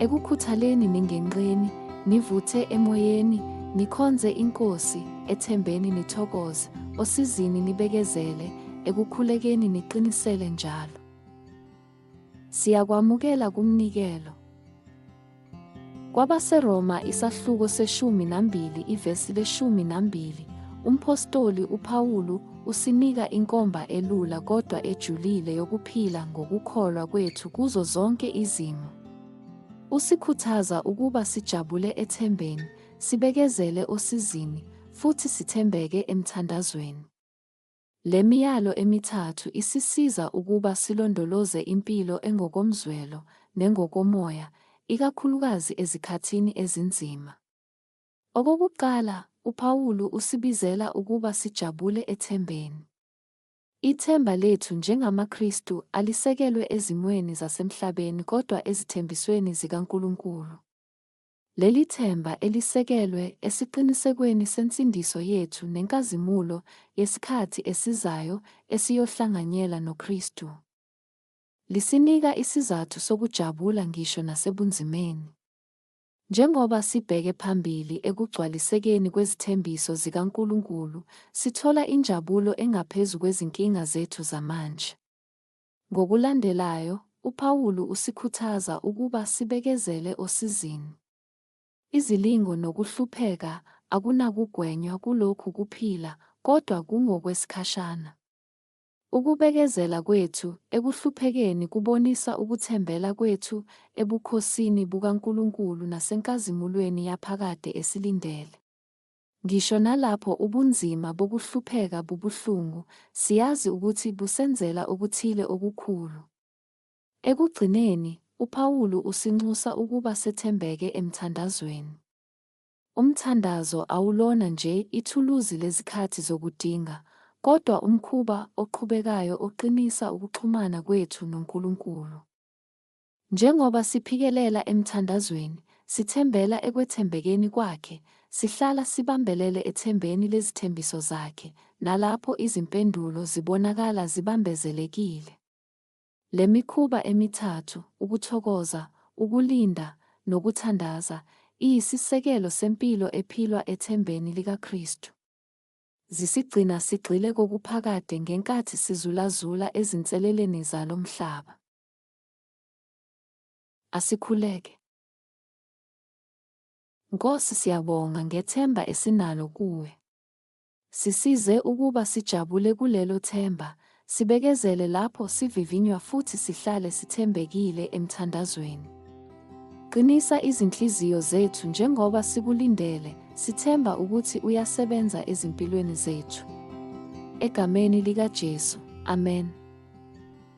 Ekukhuthaleni ningenqeni, nivuthe emoyeni, nikhonze iNkosi, ethembeni nithokoze, osizini nibekezele, ekukhulekeni niqinisele njalo. Siyakwamukela kumnikelo. KwabaseRoma isahluko seshumi nambili ivesi leshumi nambili, umphostoli uPawulu usinika inkomba elula kodwa ejulile yokuphila ngokukholwa kwethu kuzo zonke izimo. Usikhuthaza ukuba sijabule ethembeni, sibekezele osizini, futhi sithembeke emthandazweni. Le miyalo emithathu isisiza ukuba silondoloze impilo engokomzwelo nengokomoya, ikakhulukazi ezikhathini ezinzima. Okokuqala, uPawulu usibizela ukuba sijabule ethembeni. Ithemba lethu njengamaKristu alisekelwe ezimweni zasemhlabeni kodwa ezithembisweni zikaNkulunkulu. Leli themba elisekelwe esiqinisekweni sensindiso yethu nenkazimulo yesikhathi esizayo esiyohlanganyela noKristu, lisinika isizathu sokujabula ngisho nasebunzimeni. Njengoba sibheke phambili ekugcwalisekeni kwezithembiso zikaNkulunkulu, sithola injabulo engaphezu kwezinkinga zethu zamanje. Ngokulandelayo, uPawulu usikhuthaza ukuba sibekezele osizini. Izilingo nokuhlupheka akunakugwenywa kulokhu kuphila kodwa kungokwesikhashana. Ukubekezela kwethu ekuhluphekeni kubonisa ukuthembela kwethu ebukhosini bukaNkulunkulu nasenkazimulweni yaphakade esilindele. Ngisho nalapho ubunzima bokuhlupheka bubuhlungu, siyazi ukuthi busenzela okuthile okukhulu. Ekugcineni, uPawulu usinxusa ukuba sethembeke emthandazweni. Umthandazo awulona nje ithuluzi lezikhathi zokudinga, kodwa umkhuba oqhubekayo oqinisa ukuxhumana kwethu noNkulunkulu. Njengoba siphikelela emthandazweni, sithembela ekwethembekeni Kwakhe, sihlala sibambelele ethembeni lezithembiso Zakhe, nalapho izimpendulo zibonakala zibambezelekile. Le mikhuba emithathu, ukuthokoza, ukulinda, nokuthandaza, iyisisekelo sempilo ephilwa ethembeni likaKristu. Zisigcina sigxile kokuphakade ngenkathi sizulazula ezinseleleni zalo mhlaba. Asikhuleke. Nkosi siyabonga ngethemba esinalo kuwe. Sisize ukuba sijabule kulelo themba, sibekezele lapho sivivinywa futhi sihlale sithembekile emthandazweni. Qinisa izinhliziyo zethu njengoba sikulindele, sithemba ukuthi uyasebenza ezimpilweni zethu. Egameni likaJesu. Amen.